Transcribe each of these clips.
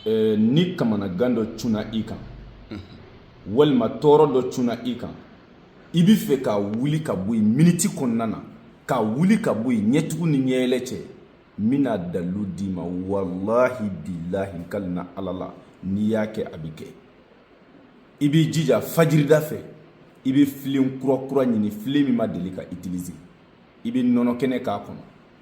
ni kamanagan dɔ cunna i kan walima tɔɔrɔ dɔ cunna i kan i bɛ fɛ ka wuli ka bɔ yen miniti kɔnɔna na ka wuli ka bɔ yen ɲɛtugu ni ɲɛyɛlɛ cɛ n bɛna dalilu d'i ma walahi bilahi n kalina ala la n'i y'a kɛ a bɛ kɛ i b'i jija fajirida fɛ i bɛ filen kura kura ɲini filen min ma deli ka utiliser i bɛ nɔnɔ kɛnɛ k'a kɔnɔ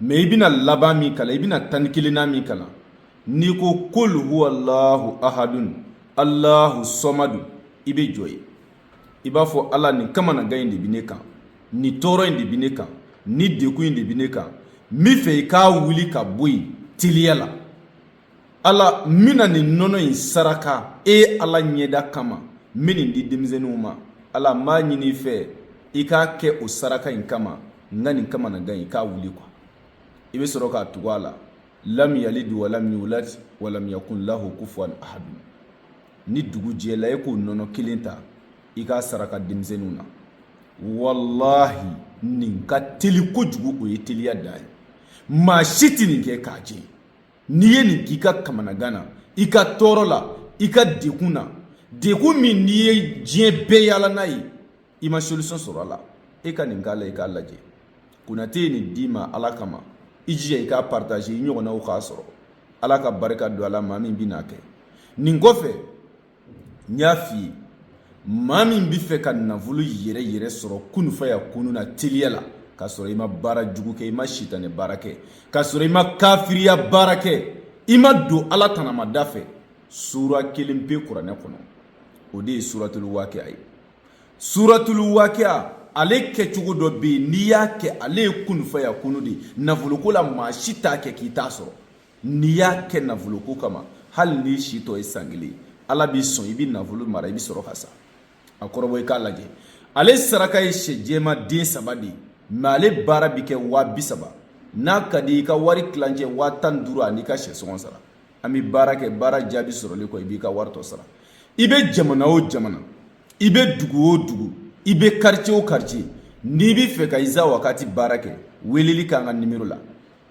mais i bɛna laban min kalan i bɛna tan ni kelennan min kalan n'i ko kul huwalahu ahadun alahu sɔmadu i bɛ jɔ yen i b'a fɔ ala nin kamanagan in de bɛ ne kan nin tɔɔrɔ in de bɛ ne kan nin dekun in de bɛ ne kan n bɛ fɛ i k'a wuli ka bɔ yen teliya la ala n bɛna nin nɔnɔ in saraka e ala ɲɛda kama n bɛ nin di denmisɛnninw ma ala n b'a ɲini i fɛ i k'a kɛ o saraka in kama n ka nin kamanagan in k'a wuli quoi i bɛ sɔrɔ k'a tugu a la lam yalid wa lam yulad wa lam yakun lahu kufuwan ahad ni dugu jɛla e k'o nɔnɔ kelen ta i k'a saraka denmisɛnninw na walahi nin ka teli kojugu o ye teliya dan ye maa si tɛ nin kɛ k'a jɛ n'i ye nin k'i ka kamanagan na i ka tɔɔrɔ la i ka dekun na dekun min n'i ye diɲɛ bɛɛ yaala n'a ye i ma solution sɔrɔ a la e ka nin k'a la i k'a lajɛ konate ye nin d'i ma ala kama i jija i k'a partager i ɲɔgɔnnaw k'a sɔrɔ ala ka barika don a la maa min bɛn'a kɛ nin kɔfɛ n y'a f'i ye maa min bɛ fɛ ka nafolo yɛrɛ yɛrɛ sɔrɔ kunu fayakunu na teliya la k'a sɔrɔ i ma baara jugu kɛ i ma sitanɛ baara kɛ k'a sɔrɔ i ma kafiriya baara kɛ i ma don ala tanamada fɛ sura kelen pe kuranɛ kɔnɔ o de ye suratulu waakɛya ye suratulu waakɛya ale kɛcogo dɔ bɛ yen n'i y'a kɛ ale ye kunu fayakunu de ye nafoloko la maa si t'a kɛ k'i t'a sɔrɔ n'i y'a kɛ nafoloko kama hali n'i si tɔ ye san kelen ala b'i sɔn i bɛ nafolo mara i bɛ sɔrɔ ka sa a kɔrɔbɔ i k'a lajɛ ale saraka ye sɛ jɛma den saba de ye mais ale baara bɛ kɛ waa bi saba n'a ka di i ka wari tilancɛ waa tan ni duuru an'i ka sɛ sɔngɔ sara an bɛ baara kɛ baara jaabi sɔrɔli kɔ i b'i ka wari tɔ sara i bɛ jamana o jamana i bɛ dugu o dugu i bɛ quartier o quartier n'i bɛ fɛ ka iza wakati baara kɛ weleli k'an ka nimero la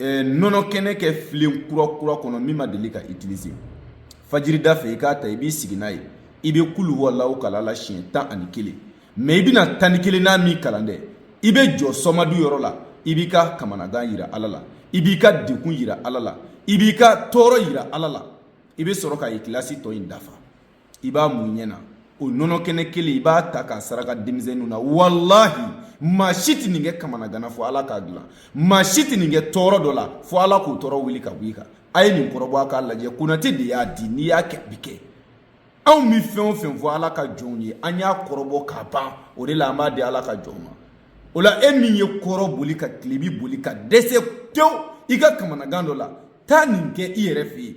eh, nɔnɔ kɛnɛ kɛ filen kura kura kɔnɔ min ma deli ka utiliser fajirida fɛ i k'a ta i b'i sigi n'a ye i bɛ kul huwalahu kalan a la siɲɛ tan ani kelen mais i bɛna tan ni kelennan min kalan dɛ i bɛ jɔ sɔmadu yɔrɔ la i b'i ka kamanagan yira ala la i b'i ka dekun yira ala la i b'i ka tɔɔrɔ yira ala la i bɛ sɔrɔ ka ikilasi tɔ in dafa i b'a mun ɲɛ na o nɔnɔ kɛnɛ kelen i b'a ta k'a saraka denmisɛnninw na walahi maa si tɛ nin kɛ kamanagan na fo ala k'a dilan maa si tɛ nin kɛ tɔɔrɔ dɔ la fo ala k'o tɔɔrɔ wuli ka bɔ i kan a ye nin kɔrɔbɔ a k'a lajɛ konate de y'a di n'i y'a kɛ a bɛ kɛ anw bɛ fɛn o fɛn fɔ ala ka jɔnw ye an y'a kɔrɔbɔ k'a ban o de la an b'a di ala ka jɔn ma o la e min ye kɔrɔn boli ka tilebin boli ka dɛsɛ tewu i ka kamanagan dɔ la taa nin kɛ i yɛrɛ fɛ yen